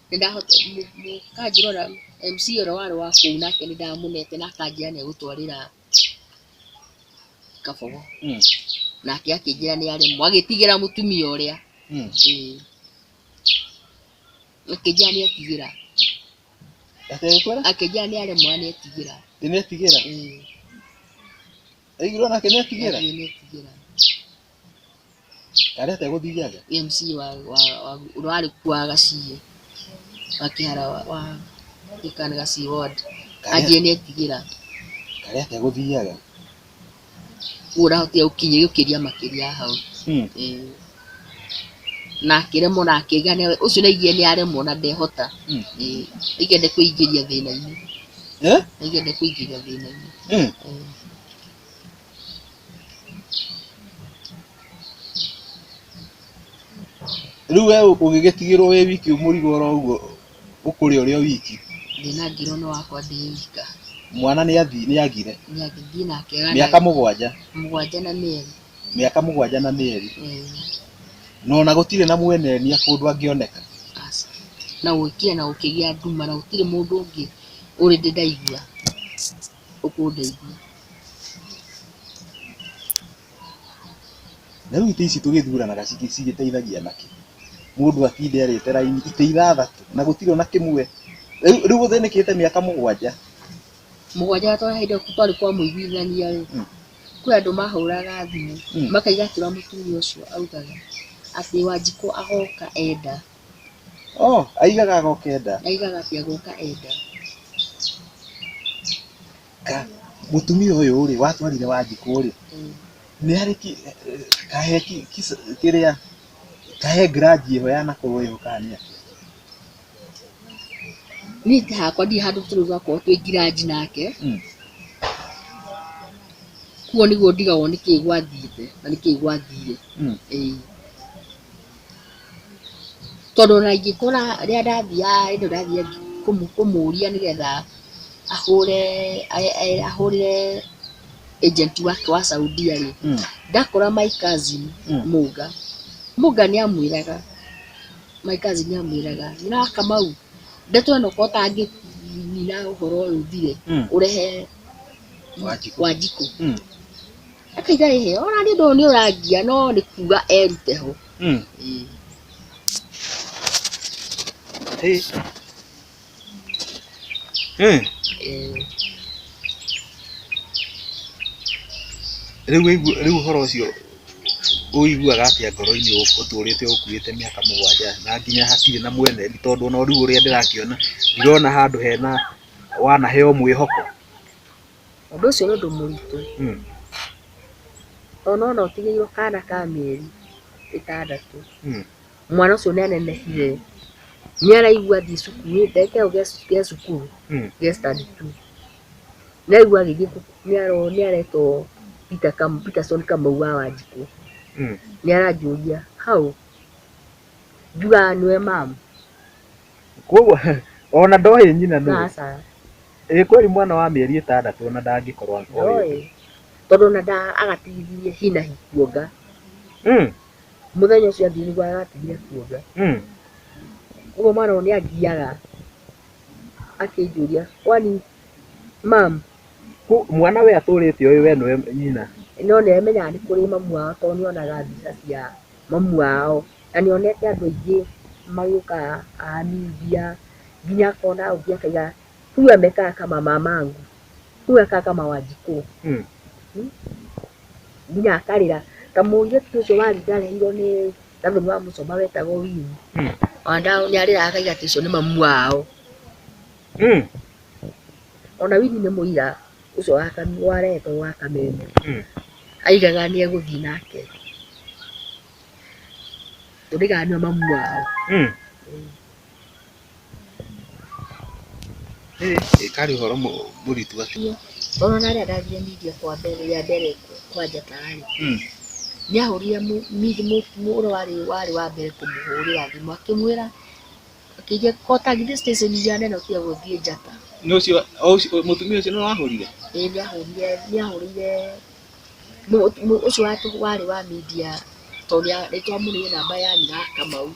Nĩ ndahota, mũka ngĩrora MC ũrĩa warĩ wa kũu nake nĩ ndamũnete na akanjĩra nĩ egũtwarĩra kabogo. Mm. Nake akĩnjĩra nĩ aremwo, agĩtigĩra mũtumia ũrĩa. Mm. Ĩĩ. Akĩnjĩra nĩ etigĩra, Akĩgĩkwĩra? akĩnjĩra nĩ aremwo na nĩ etigĩra. Ĩ nĩetigĩra? Ĩĩ. Aiguirwo nake nĩetigĩra? Nĩ etigĩra. Kareta ĩgũthiria atĩa? MC wa wa wa ũrarĩ kwa gaciĩ wa kĩhara wa wa gĩkani gaciĩ ward anjĩe nĩ etigĩra Kareta ĩgũthiria atĩa? ũrahotire gũkinyia gũkĩria makĩria hau Hmm. Eh. na akĩremwo na akĩga nĩ- ũcio naigie nĩ aremwo na ndehota Hmm. Eh, naigie nĩ kwĩingĩria thĩna-inĩ Eh? naigie nĩ kwĩingĩria thĩna-inĩ Hmm. Eh. rĩu we ũgĩgĩtigĩrwo wĩ wiki mũrigo oro ũguo ũkũrĩa ũrĩ o wiki ndĩna ngiro no wakwa ndĩ wika mwana nĩ athi nĩ agire nĩagĩthiĩ na akega na mĩaka mũgwanja mũgwanja na mĩeri mĩaka mũgwanja na mĩeri Eh, na ona gũtirĩ na mwenenia kũndũ angĩoneka aca. na gũkire na gũkĩgĩa nduma na gũtirĩ mũndũ ũngĩ ũrĩ ndĩ ndaigua ũkũndeithie. Na rĩu itĩ ici tũgĩthuranaga cigĩteithagia nakĩ? Mũndũ atinde arĩte raini itĩ ithathatũ na gũtirĩ ona kĩmwe. Rĩu ũthĩnĩkĩte mĩaka mũgwanja. Mũgwanja tondũ he hĩndĩ twarĩ kwa mũiguithania rĩ, hmm. kwĩ andũ mahũraga thimũ hmm. makaiga kĩrĩa mũtumia ũcio augaga atĩ Wanjikũ agoka enda. Oh, aigaga agoka enda. Aigaga cia goka enda. Ka mutumia uyu ri watwarire wanjiku ri. Mm. Ni ari ki kahe ki kiria kahe grudge iyo ya nakuru iyo kania. Ni ta hakwa ndi handu turuga ko twi grudge nake. Mm. Kuo niguo ndigagwo ni ki gwathite na ni ki gwathire. Mm. Eh. Tondũ ona ingĩkora rĩrĩa ndathiaga hĩndĩ ĩyo ndathiaga kũmũria nĩgetha ahũre ahũrĩre agent wake wa Saudia rĩ, ndakora my cousin Mũga, Mũga nĩ amwĩraga, my cousin nĩ amwĩraga nyonaa Kamau, ndeto ĩno korwo ũtangĩnina ũhoro ũyũ ũthire ũrehe Wanjikũ. Reke itarĩ hĩ, ona niĩ ndũyũ nĩ ũrangia no nĩ kuga erute ho. Mm. Ĩĩ. Hey. Hey. Ĩĩ. Rĩu wĩigu- rĩu ũhoro ũcio ũiguaga atĩa ngoro-inĩ ũ- ũtũrĩte ũkuĩte mĩaka mũgwanja na nginya hatirĩ na mwene ni tondũ ona rĩu ũrĩa ndĩrakĩona ndirona handũ hena wanaheo mwĩhoko ũndũ ũcio nĩ ũndũ mũritũ, tondũ nĩwona ũtigĩirwo kana ka mĩeri ĩtandatũ, mwana ũcio nĩ anenehire, nĩ araigua athiĩ cukuru, ndagĩka ĩyo ge cukuru, ge standard two, nĩ araigua agĩthiĩ nĩ aretwo Peterson Kamau wa Wanjikũ, nĩ aranjũria how, njugaga nĩwe ma'am. Kwoguo ona ndoĩ nyina nũũ? Aca. Ĩĩ kweli mwana wa mĩeri ĩtandatũ ona ndangĩkorwo oĩ ũndũ. Ndoĩ. Tondũ ona nda agatigithirie hi na hi kuonga. Mm, Mũthenya ũcio athiĩ nĩguo agatigire kuonga. mm. Ũguo mwana ũyũ nĩ angiaga akĩnjũria, kwani mam, Ku- Mwana we atũrĩte ũĩ we nĩwe nyina. no nĩ amenyaga nĩ kũrĩ mamu wao tondũ nĩ onaga mbica cia mamu wao. Na nĩ onete andũ aingĩ magĩũka haha new idia, nginya akona ũngĩ akauga huyu amekaa kama mamangu, huyu anakaa kama wanjikũ. Nginya akarĩra. Ta mũirĩtu ũcio warĩ ndarerirwo nĩ gathuri wa Mũcoma wetagwo Winnie, ona nĩ arĩraga akauga ũcio nĩ mamu wao. Mm. ona wini nĩ mũira ũcio wa Kam- wa reto wa kameme Mm. aigaga nĩ egũthiĩ nake tũrĩganio mamu wao Mm. Eh, eh, karĩ ũhoro mũ- mũritũ atia. ona na rĩrĩa ndathire media kwa mbere rĩa mbere kwa njatarĩ Mm. nĩahũrire mu- midi mu- mũra warĩ warĩ wa mbere kũmũhũrĩra thimũ akĩmwĩra Akĩiga kota githĩ station ya neno cia gũthiĩ njata. Nĩ ũcio o ũcio mũtumia ũcio nĩ wahũrire. Ĩĩ nĩ ahũrire nĩ ahũrire mũ- mũ- ũcio watũ warĩ wa media tondũ nĩa- nĩ twamũrĩire namba ya nyina wa Kamau.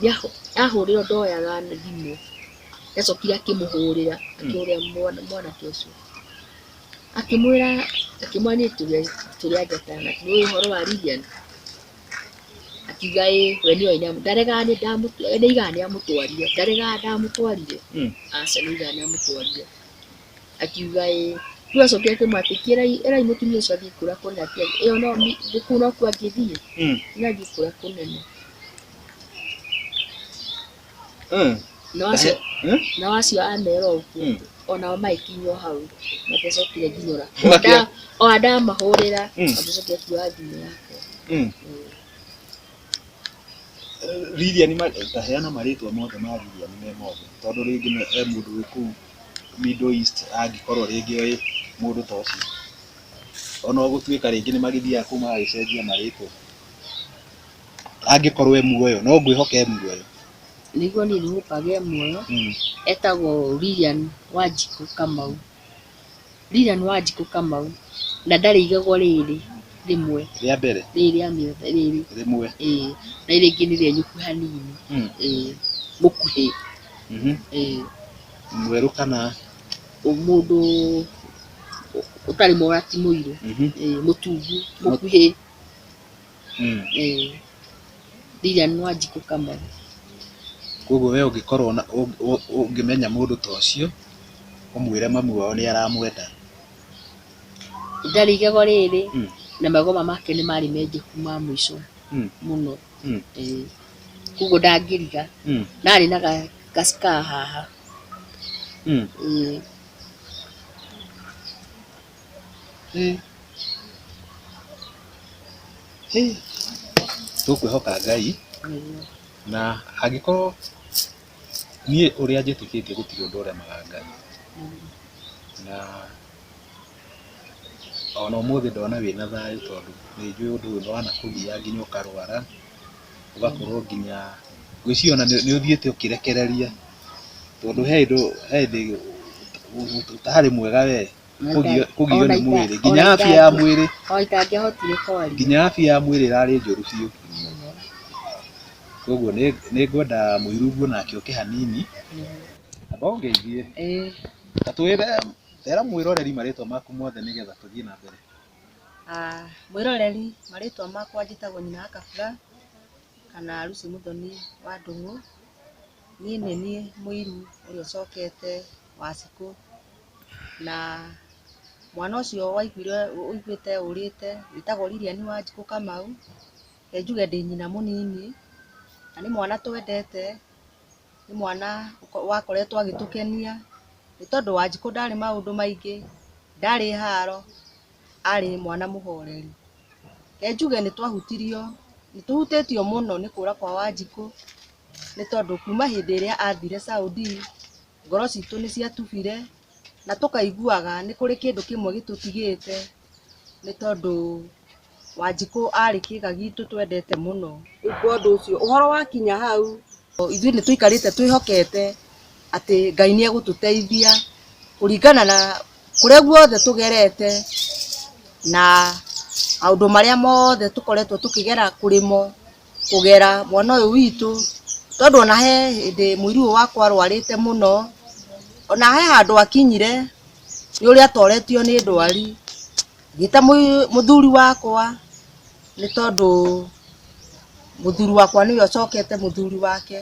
Nĩ ahũ- ahũrĩrwo ndoyaga thimũ. Nĩ acokire akĩmũhũrĩra akĩhũrĩra mwana mwanake ũcio. Akĩmwĩra akĩmwĩra niĩ tũrĩ a- tũrĩ a njata na nĩ ũĩ ũhoro wa Lilian. akiuga ĩ we nĩoĩ nĩamũ- ndaregaga nĩ ndamũtwa we nĩaigaga nĩamũtwarire ndaregaga ndamũtwarire Mm. aca nĩaigaga nĩamũtwarire akiuga ĩ rĩu acokire akĩmwĩra atĩ "Kĩrai- ĩrai mũtumia ũcio athiĩ kũrĩa kũnene atĩ ĩyo no mi- nĩ kũu nokuo angĩthiĩ Mm. nĩathiĩ kũrĩa kũnene Mm. na ũcio Ndahe- Mm. na wacio amera Mm. ũguo onao magĩkinywo hau matecokire nginyora Makĩa- ona ndamahũrĩra Mm. matecokire kuoya thimũ yakwa Mm. Lilian ma- ndaheana marĩtwa mothe ma Lilian me mothe tondũ rĩngĩ nĩ e mũndũ wĩ kũu Middle East angĩkorwo rĩngĩ oĩ mũndũ ta ũcio ona gũtuĩka rĩngĩ nĩ magĩthiaga kũu magagĩcenjia marĩtwa angĩkorwo e muoyo no ngwĩhoka e muoyo nĩguo niĩ nĩhũkaga e muoyo Mm. etagwo Lilian Wanjikũ Kamau Lilian Wanjikũ Kamau na ndarĩ igego rĩrĩ rĩmwe rĩa mbere rĩrĩ rĩa mĩote rĩrĩ rĩmwe ĩĩ na rĩrĩ rĩngĩ nĩ rĩenyũku hanini Mm. ĩĩ mũkuhĩ Mhm. ĩĩ mwerũ kana ũ- mũndũ ũ- ũtarĩ mora ti mũirũ Mhm. ĩĩ mũtungu mũkuhĩ Mm. Eh. Ndiria nwa njikũ kamwe. Koguo we ũngĩkorwo na ũng- ũ- ũngĩmenya mũndũ ta ũcio ũmwĩre mamu wao nĩ aramwenda Ndarĩ igego rĩrĩ Mm. na magoma make nĩ marĩ menjeku ma mũico Mm. mũno. Mm. Eh. Koguo ndangĩriga. Mm. Na arĩ na ga- gacika haha. Mm. Eh. Tũkwĩhoka Ngai na angĩkorwo niĩ ũrĩa njĩtĩkĩtie gũtirĩ ũndũ ũremaga Ngai, na ona ũmũthĩ ndona wĩna thayũ tondũ nĩ njũĩ ũndũ ũyũ nĩ wanakũgia nginya ũkarwara, ũgakorwo nginya, ngwĩciria ona nĩ ũthiĩte ũkĩrekereria tondũ he hĩndĩ ũtarĩ mwega wee. kũgio- kũgio nĩ mwĩrĩ nginya afya ya mwĩrĩ o itangĩahotire kwaria nginya afya ya mwĩrĩ ĩrarĩ njũru biũ koguo nĩ nĩ ngwenda mũiru nguo nake oke hanini amba ũngeithie Eh, ta twĩre era mwĩroreri marĩtwa maku mothe nĩgetha tũthiĩ na mbere ah, mwĩroreri marĩtwa makwa njĩtagwo nyina wa kabura kana ruci mũthoni wa ndũng'ũ niĩ nĩ niĩ mũiru ũrĩa ũcokete wa cikũ na mwana ũcio waiguire ũiguĩte ũrĩte wĩtagwo Lilian Wanjikũ Kamau, reke njuge ndĩ nyina mũnini, na nĩ mwana twendete, nĩ mwana wakoretwo agĩtũkenia, nĩ tondũ Wanjikũ ndarĩ maũndũ maingĩ, ndarĩ haro, arĩ mwana mũhoreri. Reke njuge nĩ twahutirio, nĩ tũhutĩtio mũno nĩ kũra kwa Wanjikũ, nĩ tondũ kuma hĩndĩ ĩrĩa athire Saudi, ngoro citũ nĩ ciatubire na tũkaiguaga nĩ kũrĩ kĩndũ kĩmwe gĩtũtigĩte nĩ tondũ Wanjikũ arĩ kĩga gitũ twendete mũno. Rĩu kwa ũndũ ũcio ũhoro wakinya hau ithuĩ nĩ tũikarĩte twĩhokete atĩ Ngai nĩ egũtũteithia kũringana na kũrĩa guothe tũgerete na maũndũ marĩa mothe tũkoretwo tũkĩgera kũrĩ mo, kũgera mwana ũyũ witũ, tondũ ona he hĩndĩ mũirũ ũyũ wakwa arwarĩte mũno, ona he handũ akinyire nĩ ũrĩa atoretio nĩ ndwari, ngĩta mũthuri wakwa nĩ tondũ mũthuri wakwa nĩwe ũcokete mũthuri wake,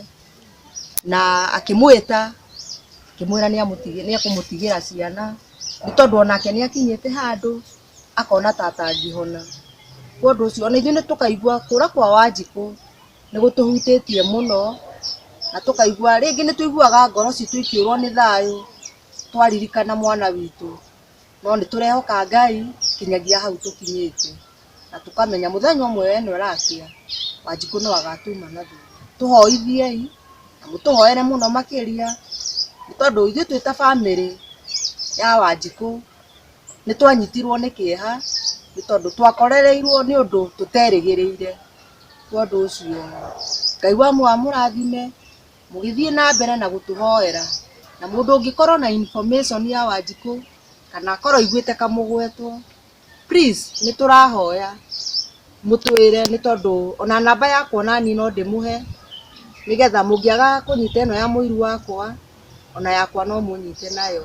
na akĩmwĩta akĩmwĩra nĩ ekũmũtigĩra ciana, nĩ tondũ onake nĩ akinyĩte handũ. akona ta atangĩhona. Kwa ũndũ ũcio ona ithuĩ nĩ tũkaigua kũra kwa Wanjikũ nĩ gũtũhutĩtie mũno na tũkaigua rĩngĩ nĩ tũiguaga ngoro citũ ikĩũrwo nĩ thayũ twaririkana mwana witũ. No nĩ tũrehoka Ngai nginyagia hau tũkinyĩte na tũkamenya mũthenya ũmwe we nĩ ũrakĩa Wanjikũ no agatuma na thutha. Tũhoithiei na mũtũhoere mũno makĩria nĩ tondũ ithuĩ twĩ ta bamĩrĩ ya Wanjikũ... nĩ twanyitirwo nĩ kĩeha nĩ tondũ twakorereirwo nĩ ũndũ tũterĩgĩrĩire. Nĩ ũndũ ũcio Ngai wa mũra amũrathime mũgĩthiĩ na mbere na gũtũhoera. Na mũndũ ũngĩkorwo na information ya Wanjikũ kana akorwo aiguĩte kamũgwetwo, please nĩ tũrahoya mũtwĩre nĩ tondũ ona namba yakwa ona niĩ no ndĩmũhe nĩgetha mũngĩaga kũnyita ĩno ya mũirũ wakwa ona yakwa no mũnyite nayo.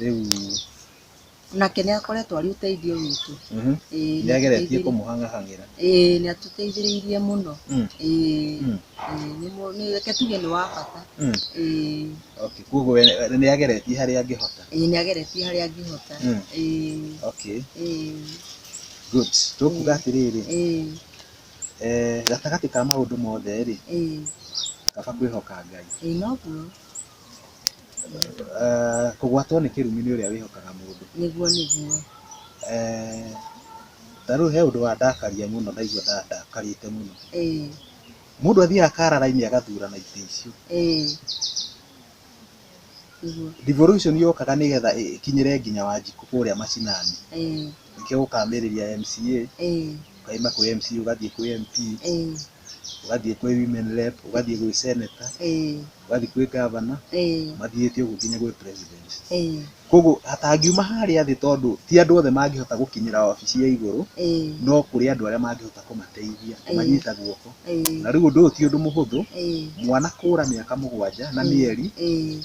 rĩu nake nĩ akoretwo arĩ ũteithio witũ mhm, Ĩĩ, nĩ nĩ ageretie atũteithĩrĩirie- kũmũhang'ahang'ĩra ĩĩ, nĩ atũteithĩrĩirie mũno Mm. Ĩĩ, Mm. ĩĩ, nĩ mũ- nĩ- reke tuge nĩ wa bata Mm. Ĩĩ, okay koguo we nĩ ageretie harĩa angĩhota ĩĩ, nĩ ageretie harĩa angĩhota Mm. Ĩĩ, okay ĩĩ, good tũkuga atĩrĩrĩ ĩĩ, eh, gatagatĩ ka maũndũ mothe rĩ ĩĩ, kaba kwĩhoka ngai ĩĩ, noguo Kũgwatwo nĩ kĩrumi nĩ ũrĩa wĩhokaga mũndũ. Nĩguo nĩguo. Ta rĩu he ũndũ wandakaria mũno ndaigua ndakarĩte mũno. Mũndũ athiaga akara raini agathurana itĩ icio. Devolution yokaga nĩgetha ĩkinyĩre nginya Wanjikũ kũrĩa mashinani. Nĩkĩo gũkamĩrĩria MCA, ũkauma kwĩ MCA ũgathiĩ kwĩ MP, ũgathiĩ kwĩ Women Rep, ũgathiĩ gwĩ Senator. wathi kwĩ gavana ĩĩ mathiĩte ũguo nginya gwĩ president ĩĩ koguo hatangiuma harĩa thĩ tondũ ti andũ othe mangĩhota gũkinyĩra wabici ya igũrũ ĩĩ no kũrĩ andũ arĩa mangĩhota kũmateithia Ĩĩ. kũmanyita guoko ĩĩ na rĩu ũndũ ũyũ ti ũndũ mũhũthũ ĩĩ mwana kũra mĩaka mũgwanja na mĩeri ĩĩ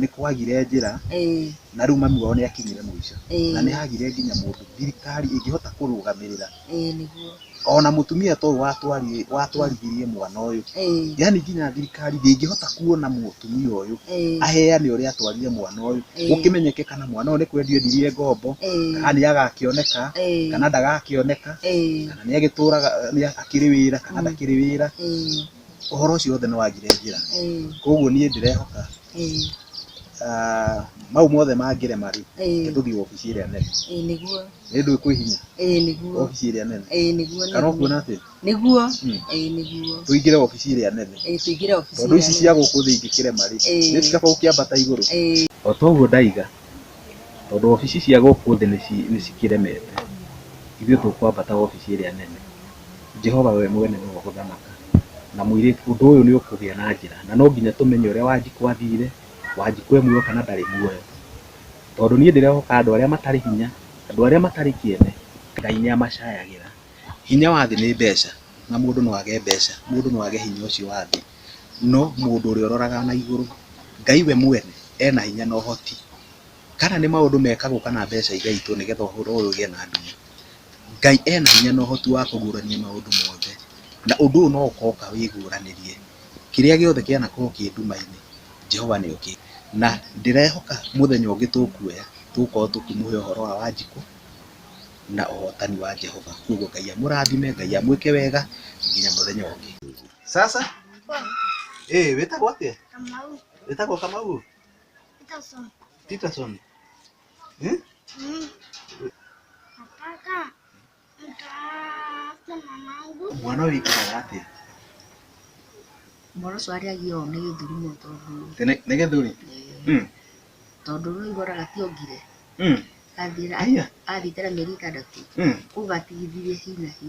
nĩ kwagire njĩra ĩĩ na rĩu mami wao nĩ akinyire mũico na nĩ ĩĩ hagire nginya mũndũ thirikari ĩngĩhota kũrũgamĩrĩra ĩĩ nĩguo ona mũtumia ta ũyũ watwari- watwarithirie mwana ũyũ ĩĩ yani nginya thirikari ndĩngĩhota kuona mũtumia ũyũ ĩĩ aheane ũrĩa atwarire mwana ũyũ Ĩĩ. gũkĩmenyeke kana mwana ũyũ nĩ kwendio endirie ngombo ĩĩ kana nĩ agakĩoneka ĩĩ kana ndagakĩoneka ĩĩ kana nĩ agĩtũraga nĩ akĩrĩ wĩra kana Ĩĩ. ndakĩrĩ wĩra ĩĩ ũhoro ũcio wothe nĩ wagire njĩra. Kwoguo niĩ ndĩrehoka mau mothe mangĩrema rĩ, reke tũthiĩ wabici ĩrĩa nene. Nĩ ndũĩ kwĩ hinya wabici ĩrĩa nene? Kana ũkuona atĩa? Tũingĩre wabici ĩrĩa nene tondũ ici cia gũkũ thĩ ingĩkĩrema rĩ, nĩ ũndũ wa gũkĩambata igũrũ. O ta ũguo ndaiga. tondũ obici cia gũkũ thĩ nĩ cikĩremete, ithuĩ tũkwambata obici ĩrĩa nene. Jehova we mwene nĩwe ũgũthamaka na mũirĩtu, ũndũ ũyũ nĩ ũkũgĩa na njĩra na no nginya tũmenye ũrĩa Wanjikũ athire, Wanjikũ e muoyo kana ndarĩ muoyo, tondũ niĩ ndĩrehoka andũ arĩa matarĩ hinya, andũ arĩa matarĩ kĩene, Ngai nĩ amacayagĩra. Hinya wa thĩ nĩ mbeca na mũndũ no age mbeca, mũndũ no age hinya ũcio wa thĩ. no mũndũ ũrĩa ũroraga na igũrũ. Ngai we mwene ena hinya na ũhoti. Kana nĩ maũndũ mekagwo kana mbeca igaitwo nĩ getha ũhoro ũyũ ũgĩe na nduma. Ngai ena hinya na ũhoti wa kũguũrania maũndũ mothe, na ũndũ ũyũ no ũka wĩguũranĩrie. Kĩrĩa gĩothe kĩanakorwo kĩ nduma-inĩ, Jehova nĩ okĩte. Na ndĩrehoka mũthenya ũngĩ tũkuoya, tũgũkorwo tũkĩmũhe ũhoro wa Wanjikũ na ũhotani wa Jehova. Kwoguo Ngai amũrathime, Ngai amwĩke wega nginya mũthenya ũngĩ. Sasa eh, wetagwo atia? Kamau. Wetagwo Kamau Peterson. Peterson eh? Mm. Nataka nitafute mamangu. mwana ũyũ wĩkaraga atia? mwana ũcio arĩagia ũũ nĩ gĩthurumo tondũ Tene nĩ gĩthuri Mm, tondũ rũĩ goraga tiongire mm, Aya. athiĩte na mĩeri ĩtandatũ mm. kũu gatigithirie hi na hi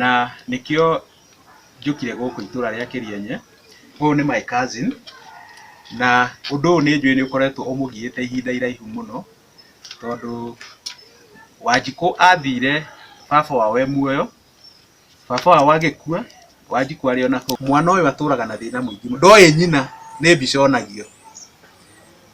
na nĩkĩo njũkire gũkũ itũra rĩa Kĩrĩenye, ũyũ nĩ my cousin na ũndũ ũyũ nĩ njũĩ nĩ ũkoretwo ũmũgiĩte ihinda iraihu mũno, tondũ Wanjikũ athire baba wao e muoyo, baba wao agĩkua, Wanjikũ arĩ ona kũu, mwana ũyũ atũraga na thĩna mũingĩ mũno, ndoĩ nyina, nĩ mbica onagio.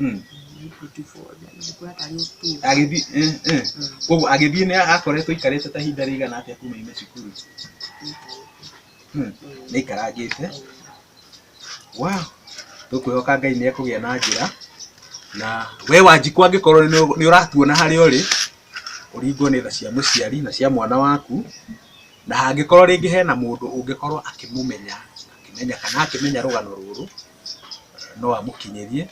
Mm. agĩthiĩ eh, eh. koguo agĩthiĩ nĩ akoretwo aikarĩte ta ihinda rĩigana atĩa kuma ime cukuru Mm. nĩ aikarangĩte wa tũkwĩhoka ngai nĩ ekũgĩa na njĩra na we wanjikũ angĩkorwo nĩ- nĩ ũratuona harĩa ũrĩ ũringwo nĩ tha cia mũciari na cia mwana waku na hangĩkorwo rĩngĩ hena mũndũ ũngĩkorwo akĩmũmenya akĩmenya kana akĩmenya rũgano rũrũ no amũkinyĩrie,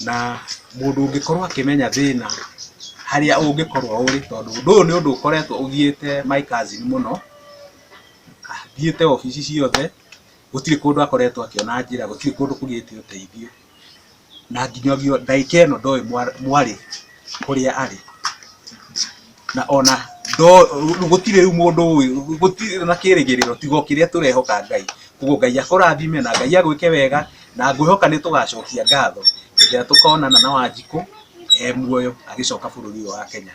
na mũndũ ũngĩkorwo akĩmenya thĩna harĩa ũngĩkorwo ũrĩ, tondũ ũndũ ũyũ nĩ ũndũ ũkoretwo ũgiĩte my cousin mũno, athiĩte obici ciothe gũtirĩ kũndũ akoretwo akĩona njĩra, gũtirĩ kũndũ kũgĩte ũteithio. na nginyagio ndagĩka ĩno ndoĩ mwarĩ kũrĩa arĩ, na ona gũtirĩ rĩu mũndũ ũĩ, gũtirĩ ona kĩrĩgĩrĩro tiga o kĩrĩa tũrehoka Ngai, ũguo Ngai akũrathime na Ngai agwĩke wega, na ngwĩhoka nĩ tũgacokia ngatho hĩndĩ ĩrĩa tũkonana na Wanjikũ e muoyo agĩcoka bũrũri ũyũ wa Kenya.